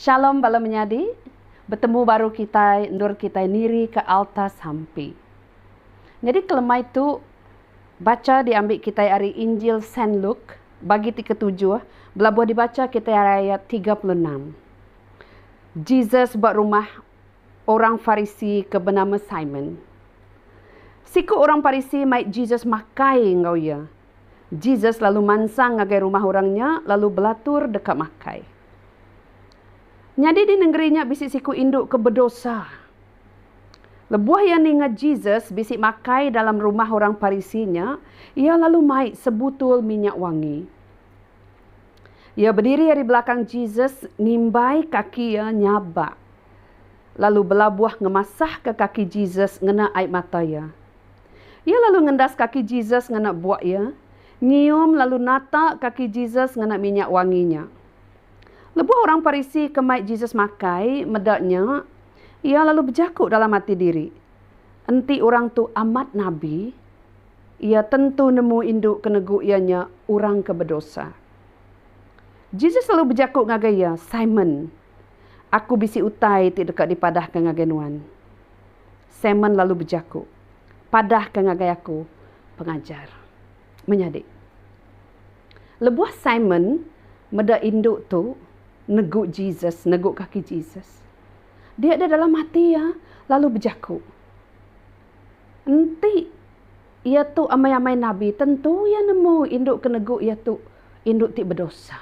Shalom bala menyadi, betemu baru kitai endur kitai niri ke alta sampi. Nyadi kelemai tu bacha diambi kitai ari Injil Saint Luke bagi ti ketujuh belabuh dibacha kitai ari ayat tiga puluh enam. Jesus ba rumah. orang Farisi ke benama Simon. Siku orang Farisi mai Jesus makai enggau iya. Jesus lalu mansang ngagai rumah orang nya lalu belatur deka makai. Nyadi di nengeri nya bisi siku indu ke bedosa. Lebuh iya ninga Jesus bisi makai dalam rumah orang Farisi nya, iya lalu mai sebutul minyak wangi. Iya bediri ari belakang Jesus nimbai kaki iya nyabak lalu belabuh ngemasahka kaki Jesus ngena ai mata iya. Iya lalu ngendas kaki Jesus ngena buk iya, nyium lalu nata kaki Jesus ngena minyak wangi nya. Lebuh orang Parisi ke mai Jesus makai meda nya, iya lalu bejaku dalam ati diri, Enti orang tu amat nabi, iya tentu nemu indu ke negu iya nya orang ke bedosa. Jesus lalu bejaku ngagai iya, Simon, Aku bisi utai ti deka dipadahka ngagai nuan. Simon lalu bejaku, Padahka ngagai aku, Pengajar. Menyadi, lebuh Simon meda indu tu negu Jesus, negu kaki Jesus, Dia da dalam ati iya lalu bejaku, Enti iya tu amai-amai nabi, tentu iya nemu indu ke negu iya tu indu ti bedosa.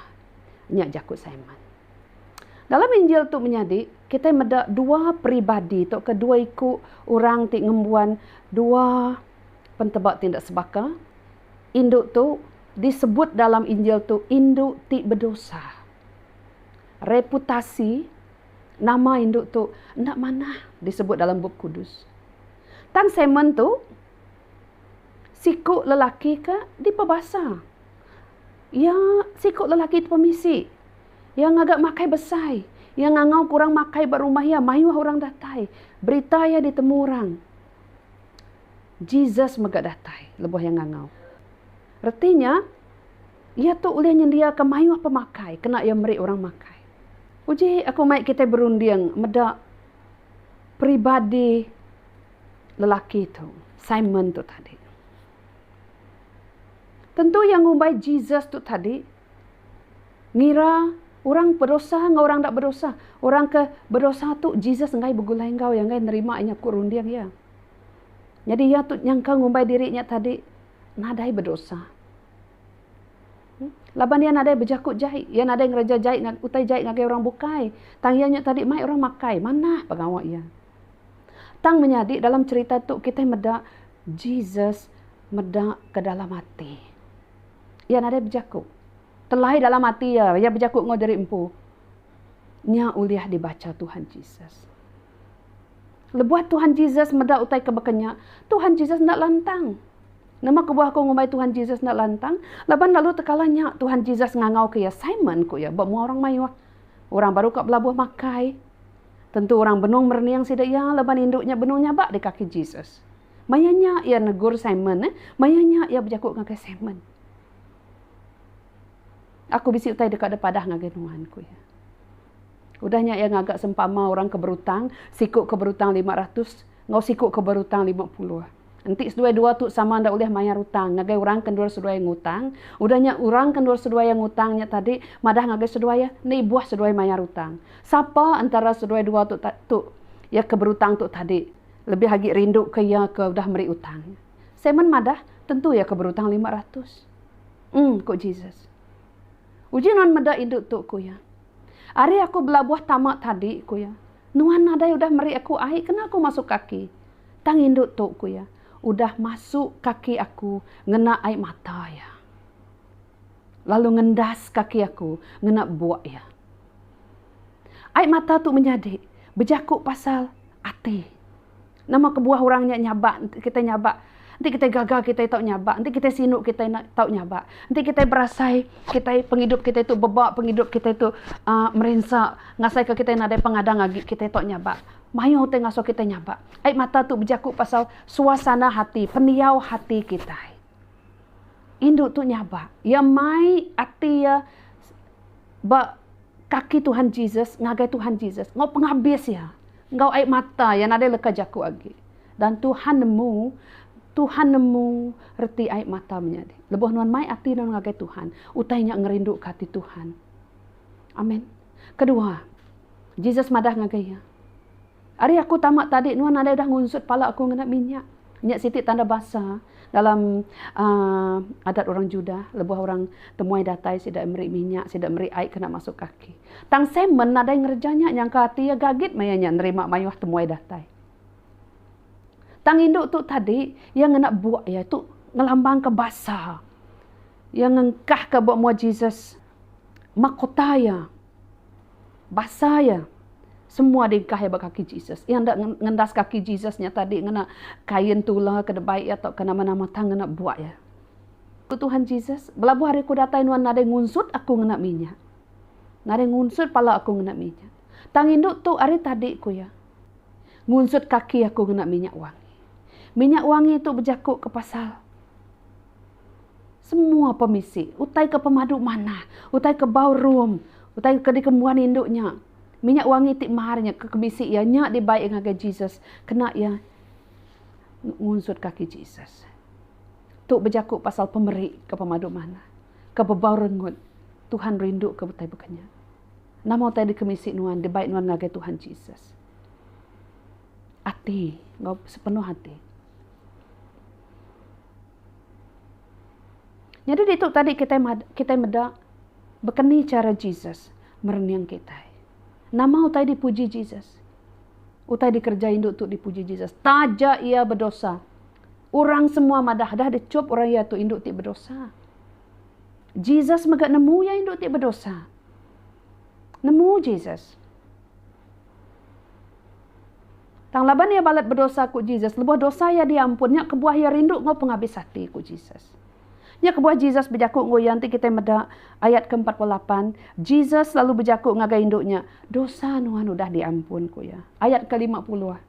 Nya jaku Simon. Dalam Injil tu menyadi, kitai meda dua peribadi tauka dua iku orang ti ngembuan dua penteba ti enda sebaka. Indu tu disebut dalam Injil tu indu ti bedosa. Reputasi nama indu tu enda manah disebut dalam Bup Kudus. Tang semen tu, siku lelaki ke dipebasa. Iya, siku lelaki tu pemisi. Iya ngaga makai besai. Iya ngangauka orang makai ba rumah iya mayuh orang datai. Berita iya ditemu orang. Jesus mega datai lebuh iya ngangau. Reti nya, Iya tu ulih nyendiaka mayuh pemakai kena iya meri orang makai. Uji aku mai kitai berunding meda peribadi lelaki tu, Simon tu tadi. Tentu iya ngumbai Jesus tu tadi ngira orang bedosa enggau orang enda bedosa. Orang ke bedosa tu Jesus enggai begulai enggau iya, enggai nerima inya ku runding iya. Nyadi iya tu nyangka ngumbai diri inya tadi nadai bedosa. Laban iya nadai bejaku jai, iya nadai ngereja jai utai jai ngagai orang bukai. Tang iya nya tadi mai orang makai manah pengawa iya. Tang menyadi dalam cherita tu kitai meda Jesus meda ke dalam ati. Iya nadai bejaku. Telai dalam ati iya, iya bejaku enggau diri empu. Nya ulih dibacha Tuhan Jesus. Lebuh Tuhan Jesus meda utai ke baka nya, Tuhan Jesus enda lantang. Nama kebuah aku ngumbai Tuhan Jesus enda lantang? Laban lalu tekala nya, Tuhan Jesus ngangauka iya, Simon, ku iya, ba mua orang mayuh, orang baru ka belabuh makai. Tentu orang benung merening sida iya, laban indu nya benung nyabak di kaki Jesus. Maya nya, iya negur Simon. Maya nya, iya bejaku ngagai Simon, Aku bisi utai deka ada padah ngagai nuan, ku iya. Udah nya, iya ngaga sempama orang ke berutang, siku ke berutang lima ratus enggau siku ke berutang lima puluh. Enti seduai dua tu sama enda ulih mayar utang ngagai orang ke endur seduai ngutang, udah nya orang ke endur seduai iya ngutang nya tadi madah ngagai seduai iya, enda ibuh seduai mayar utang. Sapa entara seduai dua tu tu iya ke berutang tu tadi lebih agi rinduka iya ke udah meri utang nya? Simon madah, Tentu iya ke berutang lima ratus. Em, ku Jesus. Uji nuan meda indu tu, ku iya. Ari aku belabuh tama tadi, ku iya, nuan nadai udah meri aku ai kena aku masuk kaki. Tang indu tu, ku iya, udah masuk kaki aku ngena ai mata iya. Lalu ngendas kaki aku ngena buk iya. Ai mata tu menyadi bejaku pasal ati. Nama kebuah orang nya nyabak enti kitai nyabak? Enti kitai gaga kitai tau nyabak, enti kitai sinu kitai tau nyabak, enti kitai berasai kitai pengidup kitai tu bebak pengidup kitai tu aaa merinsa ngasaika kitai nadai pengadang agi kitai tau nyabak. Mayuh utai ngasuh kitai nyabak. Ai mata tu bejaku pasal suasana hati, pendiau hati kitai. Indu tu nyabak, iya mai ati iya ba. Kaki Tuhan Jesus ngagai Tuhan Jesus enggau pengabis iya enggau ai mata iya nadai leka jaku agi. Dan Tuhan nemu Tuhan nemu reti ai mata menyadi. Lebuh nuan mai ati nuan ngagai Tuhan, utai nya ngerinduka ati Tuhan. Amen. Kedua, Jesus madah ngagai iya. Ari aku tama tadi nuan nadai udah ngunsut pala aku ngena minyak. Nya siti tanda basa dalam uhh adat orang Judah lebuh orang temuai datai sida meri minyak sida meri ai kena masuk kaki. Tang Simon nadai ngereja nya nyangka ati iya gagit maya nya nerima mayuh temuai datai. Tang indu tu tadi iya ngena buk iya tu ngelambangka basa iya ngengkahka ba mua Jesus mahkota iya. Basa iya, semua dingkah iya ba kaki Jesus. Iya enda ngendas kaki Jesus nya tadi ngena kain tula ke debai iya tauka nama-nama tang ngena buak iya. Ku Tuhan Jesus, Belabuh ari aku datai nuan nadai ngunsut aku ngena minyak. Nadai ngunsut pala aku ngena minyak. Tang indu tu ari tadi, ku iya, ngunsut kaki aku ngena minyak wangi. Minyak wangi tu bejakuka pasal. Semua pemisi, utai ke pemadu manah, utai ke bau rum, utai ke dikembuan indu nya, minyak wangi ti mar nya ke kebisi iya nya dibai iya ngagai Jesus kena iya ngunsut kaki Jesus. Tu bejaku pasal pemeri ke pemadu manah, ke bebau rengut. Tuhan rinduka utai baka nya. Nama utai dikemisi nuan dibai nuan ngagai Tuhan Jesus? Ati enggau sepenuh ati. Nyadi ditu tadi kitai kitai meda bekeni chara Jesus merening kitai. Nama utai dipuji Jesus? Utai dikereja indu tu dipuji Jesus taja iya bedosa. Orang semua madah dah dichup orang iya tu indu ti bedosa. Jesus mega nemu iya indu ti bedosa. Nemu Jesus. Tang laban iya balat bedosa, ku Jesus, lebuh dosa iya diampun, nya kebuah iya rindu enggau pengabis ati, ku Jesus. Nya kebuah Jesus bejaku enggau iya enti kitai meda ayat ke empat puluh lapan, Jesus lalu bejaku ngagai indu nya, Dosa nuan udah diampun, ku iya. Ayat ke lima puluh.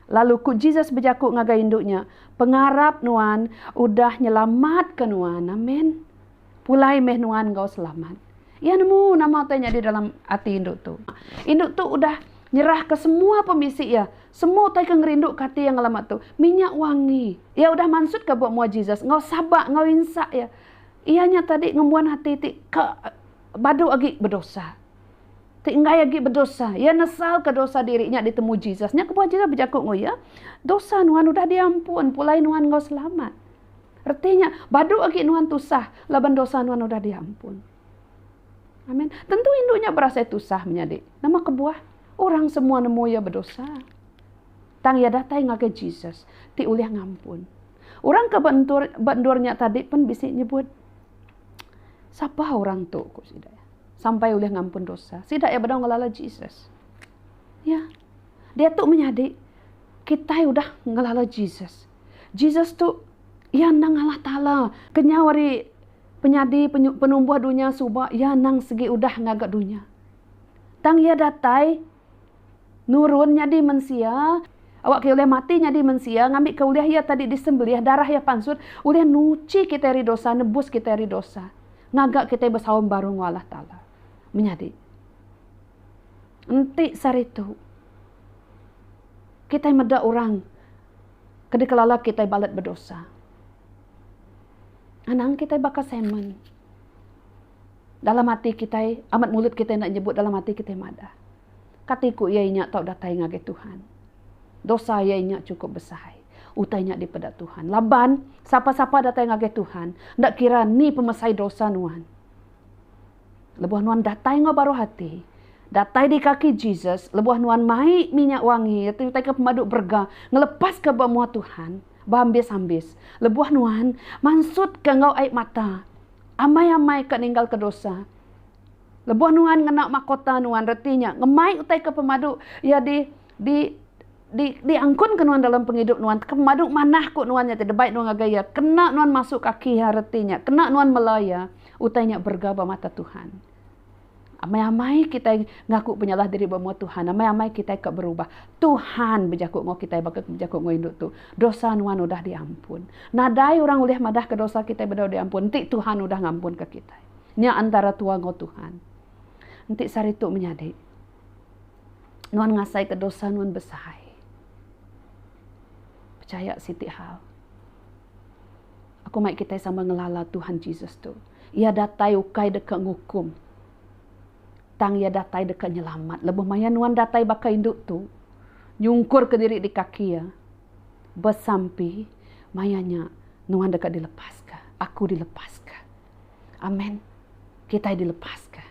Lalu, ku Jesus bejaku ngagai indu nya, Pengarap nuan udah nyelamatka nuan. Amen. Pulai meh nuan enggau selamat. Iya nemu nama utai nyadi dalam ati indu tu. Indu tu udah nyerahka semua pemisi iya, semua utai ke ngerinduka ati iya ngelama tu, minyak wangi. Iya udah mansutka buk mua Jesus enggau sabar enggau insa iya. Iya nya tadi ngembuan ati ti ka badu agi bedosa, ti enggai agi bedosa. Iya nesalka dosa diri nya ditemu Jesus. Nya kebuah Jesus bejaku enggau iya, Dosa nuan udah diampun. Pulai nuan enggau selamat. Reti nya, badu agi nuan tusah laban dosa nuan udah diampun. Amen. Tentu indu nya berasai tusah menyadi. Nama kebuah? Orang semua nemu iya bedosa. Tang iya datai ngagai Jesus ti ulih ngampun. Orang ke ba endur ba endur nya tadi pen bisi nyebut, Sapa orang tu, ku sida, sampai ulih ngampun dosa? Sida iya bedau ngelala Jesus. Ya. Diatu menyadi kitai udah ngelala Jesus. Jesus tu iya endang Allah Taala ke nyau ari penyadi penumbuh dunya suba iya endang segi udah ngaga dunya. Tang iya datai nurun nyadi mensia awakka iya ulih mati nyadi mensia ngambika ulih iya tadi disembelih darah iya pansut ulih nuchi kitai ari dosa nebus kitai ari dosa ngaga kitai besaum baru enggau Allah Taala. Menyadi enti sehari tu kitai meda orang. ke dikelala kitai balat bedosa. Anang kitai baka semen. Dalam ati kitai, amat mulut kitai enda nyebut dalam ati kitai madah. Kati ku iya inya tau datai ngagai Tuhan. Dosa iya inya chukup besai. Utai nya dipeda Tuhan. Laban, sapa-sapa datai ngagai Tuhan, enda kira ni pemesai dosa nuan. lebuh nuan datai enggau baruh ati, datai di kaki Jesus lebuh nuan mai minyak wangi iya tu utai ke pemadu berega ngelepaska ba mua Tuhan ba ambis-ambis lebuh nuan mansutka enggau ai mata amai-amai ke ninggalka dosa. Lebuh nuan ngena makota nuan reti nya ngemai utai ke pemadu iya di Di, di, di angkun ke nuan dalam pengidup nuan, teka madu manah ku nuan nya ti debai nuan ngagai iya, kena nuan masuk kaki iya reti nya, kena nuan mela iya, utai nya berega ba mata Tuhan. Amai-amai kitai ngaku penyalah diri ba mua Tuhan, amai-amai kitai ka berubah, Tuhan bejaku enggau kitai baka ke bejaku enggau indu tu, dosa nuan udah di ampun. Nadai orang ulih madah ke dosa kitai bedau di ampun, enti Tuhan udah ngampun ke kitai. Nya antara tua enggau Tuhan. Enti saritu menyadi. Nuan ngasaika dosa nuan besahai. Pechaya siti hal. Aku mai kitai sama ngelala Tuhan Jesus tu. Iya datai ukai deka ngukum. Tang iya datai deka nyelamat. Lebuh maya nuan datai baka indu tu, nyungkurka diri di kaki iya, besampi, maya nya nuan deka dilepaska. Aku dilepaska. Amen. Kitai dilepaska.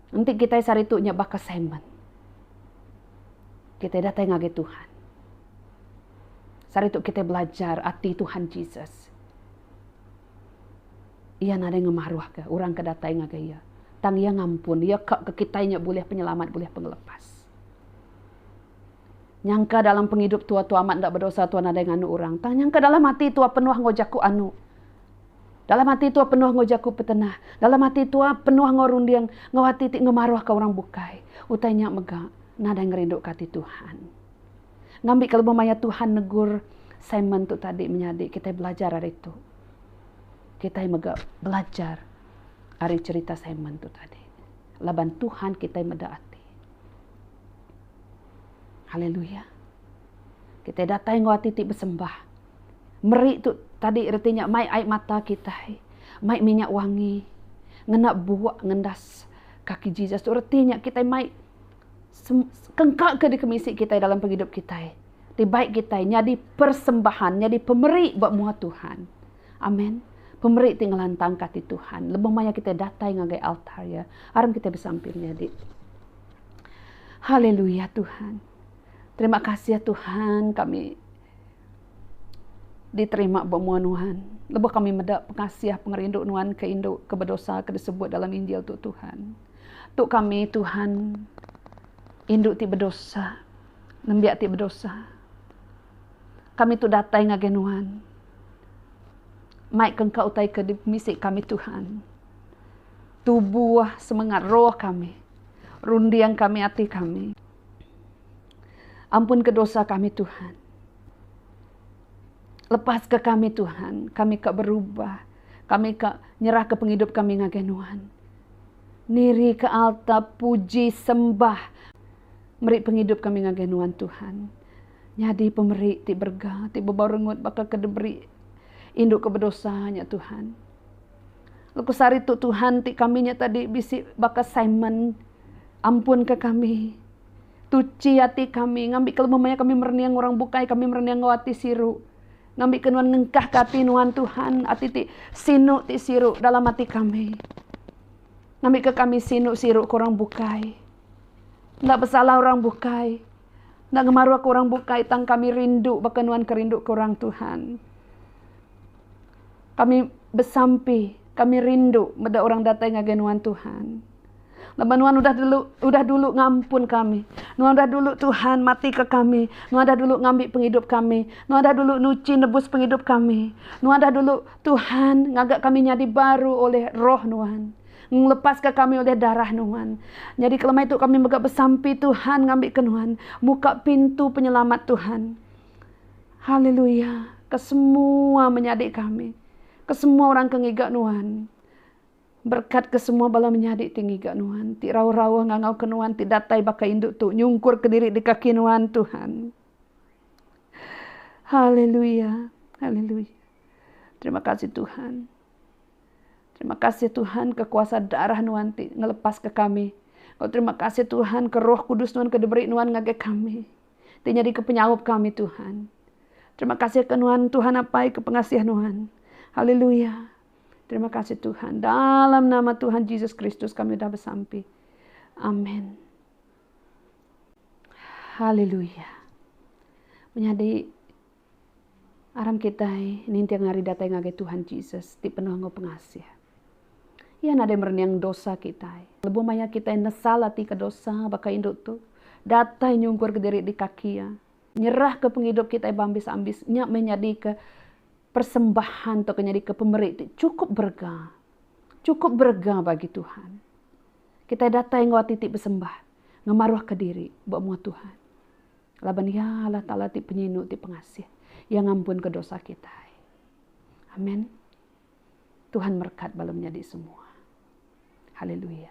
Enti kitai saritu nya baka Simon, kitai datai ngagai Tuhan. Saritu kitai belajar ati Tuhan Jesus. Iya nadai ngemaruhka orang ke datai ngagai Iya, tang Iya ngampun, Iya ka ke kitai nya bulih penyelamat, bulih pengelepas. Nyangka dalam pengidup tua tua amat enda bedosa tua nadai nganu orang, tang nyangka dalam ati tua penuh enggau jaku anu. Dalam ati tua penuh enggau jaku petenah. Dalam ati tua penuh enggau runding enggau ati ti ngemaruhka orang bukai. Utai nya mega nadai ngerinduka ati Tuhan. Ngambika lebuh maya Tuhan negur Simon tu tadi menyadi kitai belajar ari tu. Kitai mega belajar ari cherita Simon tu tadi. Laban Tuhan kitai meda ati. Haleluya. Kitai datai enggau ati ti besembah. meri tu tadi reti nya mai ai mata kitai mai minyak wangi ngena buak ngendas kaki Jesus tu reti nya kitai mai kengka ke dikemisi kitai dalam pengidup kitai ti bai kitai nyadi persembahan nyadi pemeri ba muha Tuhan. Amen. Pemeri ti ngelantangka ati Tuhan lebuh maya kitai datai ngagai altar iya. Aram kitai besampi menyadi. Haleluya Tuhan. Terima kasih ya Tuhan kami. Diterima ba mua Nuan. Lebuh kami meda pengasih pengerindu Nuan ke indu ke bedosa ke disebut dalam Injil tu Tuhan. Tu kami Tuhan indu ti bedosa, nembiak ti bedosa. Kami tu datai ngagai Nuan. Mai ke engka utai ke misi kami Tuhan. Tubuh semengat roh kami. Runding kami ati kami. Ampunka dosa kami Tuhan. Lepaska kami Tuhan, kami ka berubah. Kami ka nyerahka pengidup kami ngagai Nuhan. Nirika alta puji sembah meri pengidup kami ngagai Nuhan Tuhan. Nyadi pemeri ti berega, ti bebau rengut baka ke diberi indu ke bedosa nya Tuhan. Lebuh sehari tu Tuhan ti kami nya tadi bisi baka Simon, ampunka kami. Tuchi ati kami, ngambika lema maya kami merening orang bukai, kami merening enggau ati siru. Ngambika nuan ngengkahka ati nuan, Tuhan, ati ti sinu ti siru dalam ati kami. Ngambika kami sinu siru ke orang bukai. Enda besalah orang bukai. Enda ngemaruhka orang bukai tang kami rindu baka nuan ke rinduka orang, Tuhan. Kami besampi, kami rindu meda orang datai ngagai nuan, Tuhan. Laban nuan udah dulu udah dulu ngampun kami. Nuan udah dulu Tuhan matika kami. Nuan udah dulu ngambi pengidup kami. Nuan udah dulu nuchi nebus pengidup kami. Nuan udah dulu Tuhan ngaga kami nyadi baru oleh roh nuan. Ngelepaska kami oleh darah nuan. Nyadi kelemai tu kami mega besampi Tuhan ngambika nuan muka pintu penyelamat Tuhan. Haleluya. Kesemua menyadi kami. Kesemua orang ke ngiga nuan. Berekatka semua bala menyadi ti ngiga Nuan, ti rauh-rauh ngangauka Nuan, ti datai baka indu tu nyungkurka diri di kaki Nuan, Tuhan. Haleluya. Haleluya. Terima kasih, Tuhan. Terima kasih, Tuhan, ke kuasa darah Nuan ti ngelepaska kami. Enggau terima kasih, Tuhan, ke Roh Kudus Nuan ke diberi Nuan ngagai kami, ti nyadika penyaup kami, Tuhan. Terima kasih ke Nuan, Tuhan apai, ke pengasih Nuan. Haleluya. Terima kasih Tuhan. Dalam nama Tuhan Jesus Kristus kami sudah bersampi. Amin. Haleluya. Menyadi aram kita nintiang hari datang ngagai Tuhan Jesus di penuh ngau pengasih. Ia nadai merenyang dosa kita. Lebuh maya kita nesal ati ke dosa baka indu tu. Datai nyungkur ke diri di kaki ia. Nyerah ke pengidup kita bambis-ambis. Nya menyadi ke Persembahan tu akan nyadika pemeri ti chukup berega. Chukup berega bagi Tuhan. Kitai datai enggau ati ti besembah, ngemaruhka diri ba mua Tuhan. Laban Iya Allah Taala ti Penyinu ti Pengasih. Iya ngampunka dosa kitai. Amen. Tuhan merekat bala menyadi semua. Haleluya.